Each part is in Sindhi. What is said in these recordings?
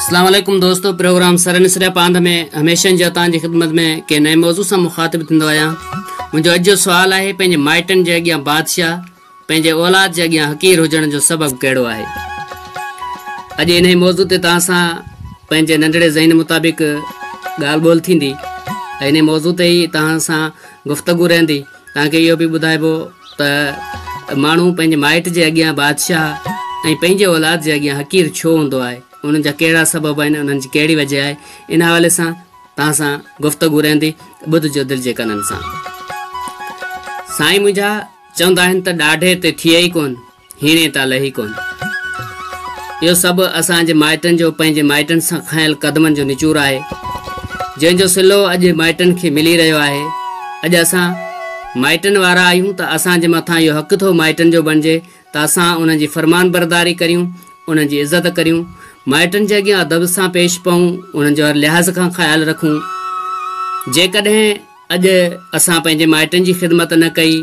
اسلام عليڪم دوستو پروگرام سرن سريا پاند ۾ هميشن جا تان جي خدمت ۾ ڪي نئين موضوع سان مخاطب ٿيندو آيان منهنجو اڄ جو سوال آهي پنهنجي مائٽن جي اڳيان بادشاهه پنهنجي اولاد جي اڳيان حقير هجڻ جو سبب ڪهڙو آهي اڄ ان موضوع تي تان سان پنهنجي ننڍڙي ذهن مطابق ڳالهه ٻول ٿيندي ان موضوع تي ئي تان سان گفتگو رهندي توهان کي اهو به ٻڌائبو ته ماڻهو پنهنجي مائٽ جي اڳيان بادشاهه ۽ پنهنجي اولاد جي اڳيان حقير ڇو هوندو آهي، انهن جا ڪهڙا سبب آهن، انهن جي ڪهڙي وجه آهي، ان حوالي سان توهان سان گفتگو رهندي، ٻڌجو دل جي ڪنن سان. سائين منهنجا چوندا آهن ته ڏاڍي تي ٿئي ئي ڪونه. هيڻي تان لهي ڪونه. اهو سڀ اسان جي مائٽن جو پنهنجي مائٽن سان کنيل قدمن جو نچور آهي، جنهن جو صلو اڄ مائٽن کي ملي رهيو آهي. اڄ اسان مائٽن وارا آهيون ته اسان جي مٿان اهو حق ٿو مائٽن جو بڻجي ته اسان انهن جي فرمانبرداري ڪريون، انهن جي عزت ڪريون، مائٽن جي اڳيان ادب سان پيش پئون، انهن جو هر لحاظ کان خيال رکون. جيڪڏهن. اڄ اسان پنهنجي مائٽن جي خدمت نه ڪئي،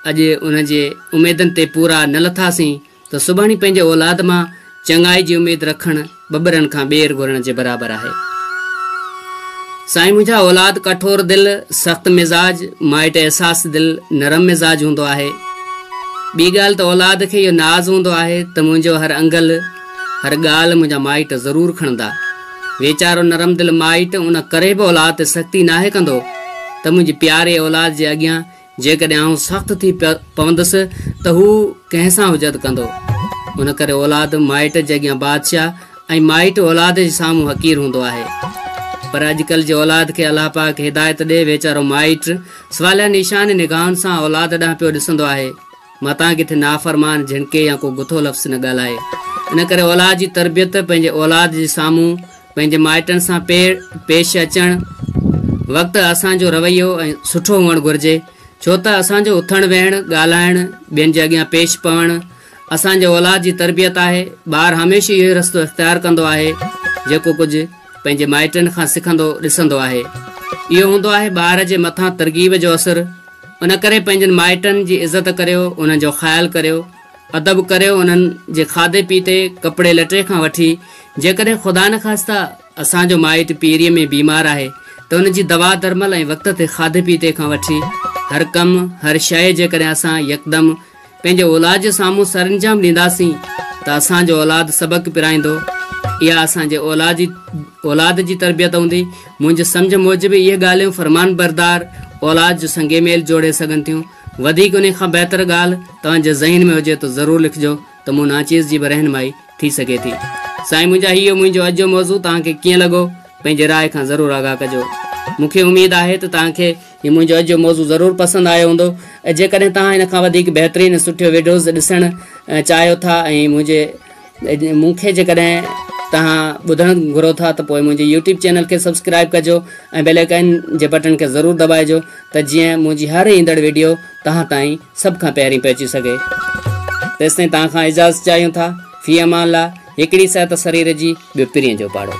اڄ انهن جي اميدن تي پورا نه لٿاسين ته سڀاڻي پنهنجي اولاد مان چڱائي جي اميد رکڻ ٻٻرن کان ٻير گهرڻ جي برابر آهي. سائين منهنجا اولاد ڪٺور دل، سخت مزاج، مائٽ احساس دل، نرم مزاج هوندو آهي. ٻي ڳالهه ته اولاد کي اهو ناز هوندو آهي ته منهنجو هر انگل، هر ڳالهه منهنجا مائٽ ضرور کڻندا. ويچارو نرم دل مائٽ ان ڪري به اولاد تي سختي ناهي ڪندو ته منهنجي پياري اولاد جي اڳيان جيڪڏهن آئون سخت ٿي پوندس ته هو ڪنهن سان حجت ڪندو ان ڪري اولاد مائٽ جي اڳيان بادشاهه ۽ مائٽ اولاد جي سامهون حقير هوندو آهي پر اڄڪلهه جي اولاد کي الله پاڪ هدايت ڏي ويچارو مائٽ سواليا نيشان نگاهن سان اولاد ڏانهن پيو ڏسندو آهي متان ڪٿي نافرمان جهڻڪي يا ڪو گٿو لفظ نه ڳالهائي. ان ڪري اولاد جي تربيت، پنهنجي اولاد جي سامهون پنهنجي مائٽن سان پيڙ پيش اچڻ وقت اسان جو رويو ۽ سٺو هئڻ گهرجي، ڇو ته اسان جو اٿڻ ويهڻ، ڳالهائڻ، ٻين جي اڳيان پيش پوڻ اسان جي اولاد جي تربيت آهي. ٻار هميشه اهو ئي رستو اختيار ڪندو آهي، جيڪو ڪجهه پنهنجي مائٽن کان سکندو ڏسندو آهي. اهو هوندو آهي ٻار جي مٿان ترغيب جو اثر. ان ڪري پنهنجن مائٽن جي عزت ڪريو، انهن جو خيال ڪريو، ادب ڪريو انهن جي کاڌي پيتي، ڪپڙي لٽي کان وٺي جيڪڏهن خدا نخواسته اسان جو مائٽ پيريء ۾ بيمار آهي ته ان جي دوا درمل ۽ وقت تي کاڌي پيتي کان وٺي هر ڪم، هر شيء جيڪڏهن اسان يڪدم پنهنجي اولاد جي سامهون سرانجام ڏينداسين ته اسان جو اولاد سبق پرائيندو. اها اسان جي اولاد جي اولاد جي تربيت هوندي. منهنجي سمجهه موجب اهي ڳالهيون فرمانبردار اولاد جو سنگ ميل جوڙي سگهن ٿيون. وڌيڪ انهي کان بهتر ڳالهه توهان جي ذهن ۾ هجي ته ضرور لکجو ته مون ناچيز جي به رهنمائي ٿي سگهي ٿي. سائين منهنجا هي هيو منهنجو اڄ جو موضوع توهان کي ڪيئن لڳو پنهنجي راء کان ضرور آگاهه ڪجو. مون کي اميد آهي ته توهان کي هي منهنجو اڄ جو موضوع ضرور پسند آيو هوندو جيڪڏهن توهان ان کان وڌيڪ بهترين ۽ سٺيو ويڊيوز ڏسڻ چاهيو ٿا ۽ منهنجي مون کي جيڪڏهن توهان ٻڌڻ گهرو ٿا ته پوء منهنجي يوٽيوب چينل کي سبسڪرائب ڪجو ۽ بيل آئڪن جي بٽن کي ضرور دٻائجو ته جيئن منهنجي هر ايندڙ ويڊيو توهان تائين سڀ کان پهرين پهچي سگهي تيستائين توهان کان اجازت چاهيون ٿا في امان الله هڪڙي صحت سرير جي ٻيو پرين جو پاڙو